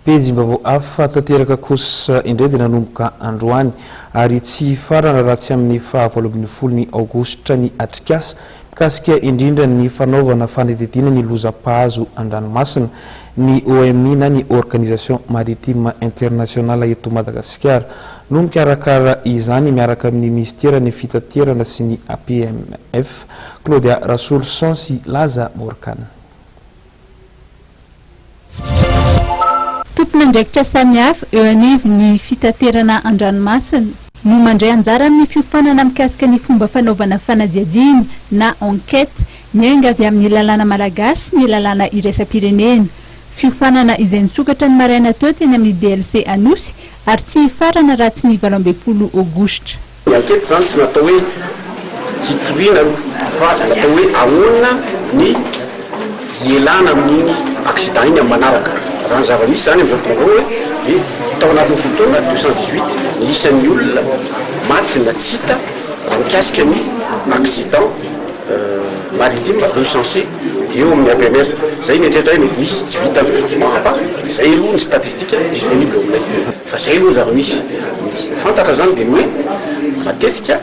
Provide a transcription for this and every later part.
Pejim-baovao hafa tanteraka kosa indray dia nanomboka androany ary tsy hifarana raha tsy amin'ny faha valo ambin'ny folo ny aogositra ny atrikasa mikasika indrindra ny fanaovana fanadihadiana ny loza mpahazo an-dranomasina ny OMI na ny Organisation Maritime Internationale eto Madagasikara no mikarakara izany miaraka amin'ny Minisitera ny Fitaterana sy ny APMF Claudia Rasoloson sy Laza Morgane Tompon'andraikitra samihafa eo anivon'ny fitaterana an-dranomasina, no mandray anjara amin'ny fiofanana mikasika ny fomba fanaovana fanadihadiana na enquête miainga avy amin'ny lalàna malagasy sy ny lalàna iraisam-pirenena. Fiofanana izay nisokatra ny maraina teo teny amin'ny DLC Anosy ary tsy hifarana raha tsy ny valo ambin'ny folo Aogositra. Ny ankety izany tsy natao hoe hitoriana aloha fa natao hoe ahoana ny hielana amin'iny accident iny amin'ny manaraka. Raha ny zava-misy izany amin'izao fotoana izao hoe dia tao anatin'ny folo taona deux cent dix huit ny isan'ny olona maty na tsy hita raha mikasika ny accident maritime recenser eo amin'ny APMR. Izay mieritreritra hoe mety misy tsy vita recensement fa izay aloha ny statistique disponible eo aminay. Fa izay aloha ny zava-misy. Ny tsy fantatra izany dia ny hoe matetika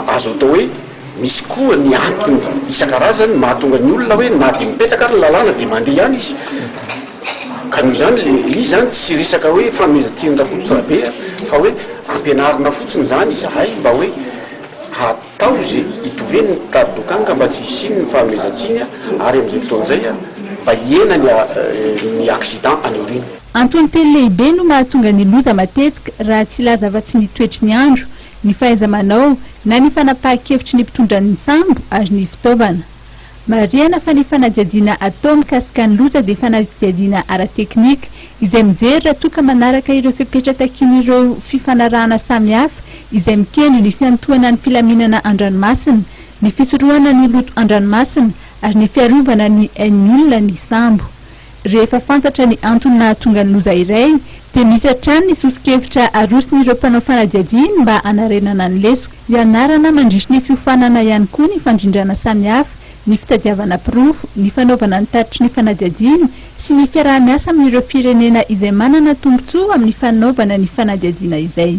azo atao hoe misy koa ny antony isan-karazany mahatonga ny olona hoe na dia mipetraka ary ny lalàna dia mandeha ihany izy. Ka noho izany ilay izy izany tsy resaka hoe fanomezan-tsiny Rakotodrabe fa hoe ampianarina fotsiny izany izahay mba hoe ha. Taozy, itovy ny mpitady lokanga mba tsy hisian ny fanomezan-tsiny ary amin'izay fotoana izay mba hihena ny accident any aoriana. Antony telo lehibe no mahatonga ny loza matetika raha tsy hilaza afa-tsy ny toetry ny andro, ny fahaiza-manao na ny fanapahan-kevitry ny mpitondra ny sambo ary ny fitaovana. Marihana fa ny fanadihadiana atao mikasika ny loza dia fanadihadiana ara-teknika izay mijery raha toa ka manaraka ireo fepetra takian'ireo fifanarahana samihafa izay mikendry ny fiantohana ny filaminana an-dranomasina, ny fisorohana ny loto an-dranomasina ary ny fiarovana ny ain'ny olona ny sambo. Rehefa fantatra ny antony nahatonga ny loza iray, dia misy hatrany ny soso-kevitra aroson'ireo mpanao fanadihadiana mba hanarenana ny lesoka. Ianarana mandritry ny fiofanana ihany koa ny fandrindrana samihafa, ny fitadiavana porofo, ny fanaovana ny tatitry ny fanadihadiana, sy ny fiaraha-miasa amin'ireo firenena izay manana tombontsoa amin'ny fanaovana ny fanadihadiana izay.